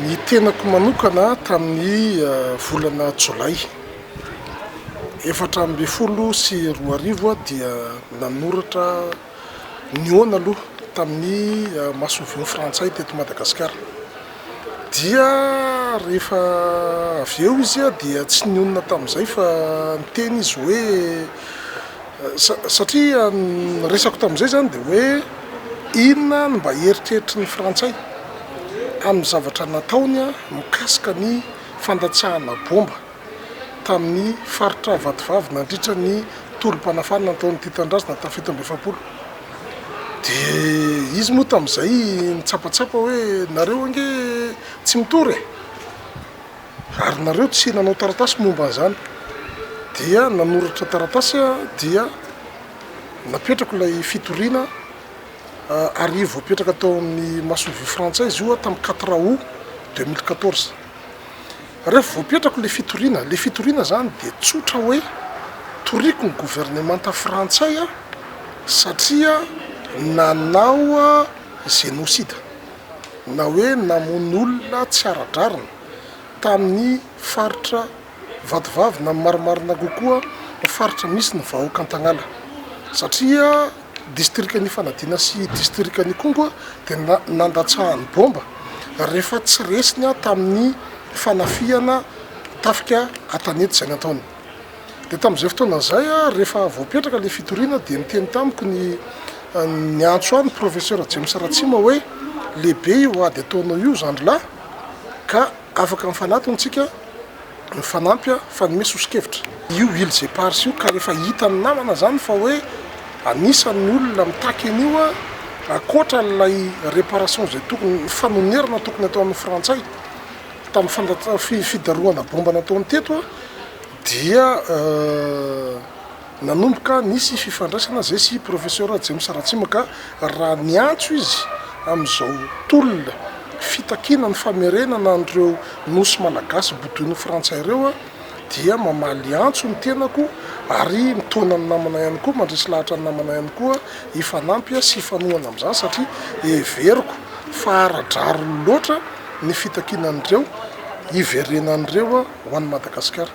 Ny tenako manokana tamin'ny volana jolay efatra ambin'ny folo sy roa arivo dia nanoratra nihaona aloha tamin'ny masoivoho frantsay teto Madagasikara dia rehefa avy eo izy dia tsy nionona tamin'izay fa niteny izy hoe Satria ny resako tamin'izay izany dia hoe inona no mba eritreritry ny frantsay amin'ny zavatra nataony mikasika ny fandatsahana bomba tamin'ny faritra Vatovavy nandritra ny tolom-panafahana nataon'ity tanindrazana tamin'ny fito amby efapolo dia izy moa tamin'izay nitsapatsapa hoe nareo ange tsy mitory e! Ary nareo tsy nanao taratasy momba an'izany. Dia nanoratra taratasy aho dia napetrako ilay fitoriana ary voapetraka tao amin'ny masoivoho frantsay izy io tamin'ny quatre août deux mille quatorze. Rehefa voapetrako ilay fitoriana, ilay fitoriana izany dia tsotra hoe toriko ny governemanta frantsay aho satria nanao génocide. na hoe namono olona tsy ara-drariny tamin'ny faritra Vatovavy na marimarina kokoa ny faritra misy ny vahoaka Antagnala satria distrikan'i Ifanadiana sy distrikan'Ikongo dia nandatsahan'ny bomba rehefa tsy resiny tamin'ny fanafihana tafika an-tanety izay nataony. Dia tamin'izay fotoana izay, rehefa voapetraka ilay fitoriana, dia niteny tamiko ny niantso ahy ny Professeur James Ratsima hoe, Lehibe io ady ataonao io zandrilahy, ka afaka mifanatona isika, mifanampy fa ny me soso-kevitra. Io Îles Éparses io, ka rehefa hitan'ny namana izany fa hoe anisan'ny olona mitaky an'io aho, ankoatra an'ilay réparation izay tokony, ny fanonerana tokony atao amin'ny Frantsay, Tamin'ny fandatsa fidarohana bomba nataony teto dia nanomboka nisy fifandraisana zay sy Professeur James Ratsimaka raha niantso izy amin'izao tolona fitakiana ny famerenana an'ireo Nosy Malagasy bodoin'ny Frantsay ireo. dia mamaly antso ny tenako ary mitaona ny namana ihany koa, mandresy lahatra ny namana ihany koa hifanampy sy hifanohana amin'izany satria heveriko fa ara-drariny loatra ny fitakinan'ireo hiverenan'ireo ho an'i Madagasikara.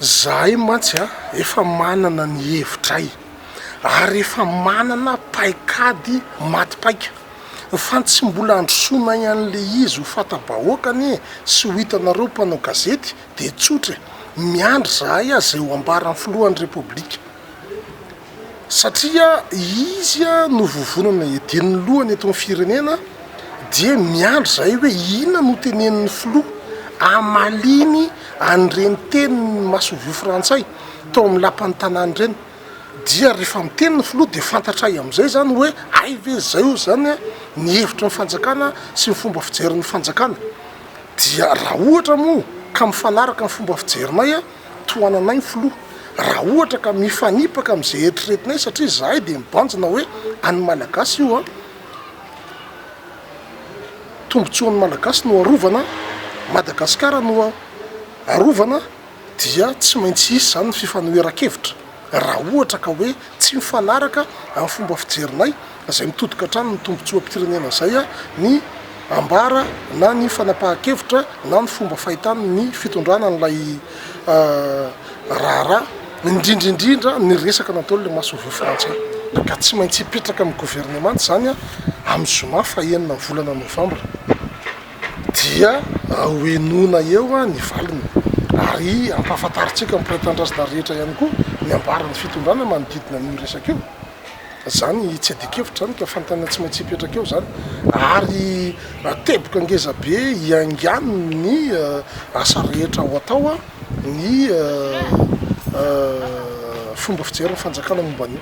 Izahay mantsy efa manana ny hevitray ary efa manana paikady maty paika fa ny tsy mbola androsoanay an'ilay izy ho fanta-bahoaka anie sy ho hitanareo mpanao gazety, dia tsotra e! miandry zahay aza eo ambaran'ny filohan'ny repoblika satria izy no vovonana edin'ny lohany eto amin'ny firenena dia miandry zahay hoe inona no tenenin'ny filoha amaliny an'ireny teniny masovio frantsay tao amin'ny lapan'ny tanàna ireny dia rehefa miteny ny filoha dia fantatray amin'izay zany hoe hay ve zay o zany ny hevitry ny fanjakana sy ny fomba fijerin'ny fanjakana Dia raha ohatra moa ka mifanaraka amin'ny fomba fijerinay tohananay ny filoha, raha ohatra ka mifanipaka amin'izay eritreretinay satria izahay dia mibanjina hoe an'ny Malagasy io, tombontsoan'ny Malagasy no arovana, Madagasikara no arovana. dia tsy maintsy hisy izany ny fifanoheran-kevitra raha ohatra ka hoe tsy mifanaraka amin'ny fomba fijerinay izay mitodika hatrany ny tombontsoam-pirenena izay ny ambara na ny fanapahan-kevitra na ny fomba fahitany ny fitondrana an'ilay raharaha indrindra indrindra ny resaka nataon'ilay Masovia frantsay ka tsy maintsy hipetraka amin'ny governemanta izany amin'ny zoma fahenina ny volana novambra. dia hohenoina eo ny valiny ary ampahafantarintsika ny mpiray-tanindrazana rehetra ihany koa ny ambaran'ny fitondrana manodidina an'io resaka io. Izany tsy adin-kevitra izany ka fanontaniana tsy maintsy hipetraka eo izany ary teboka ngeza be hiaingano ny asa rehetra ho atao ny fomba fijerin'ny fanjakana momba an'io.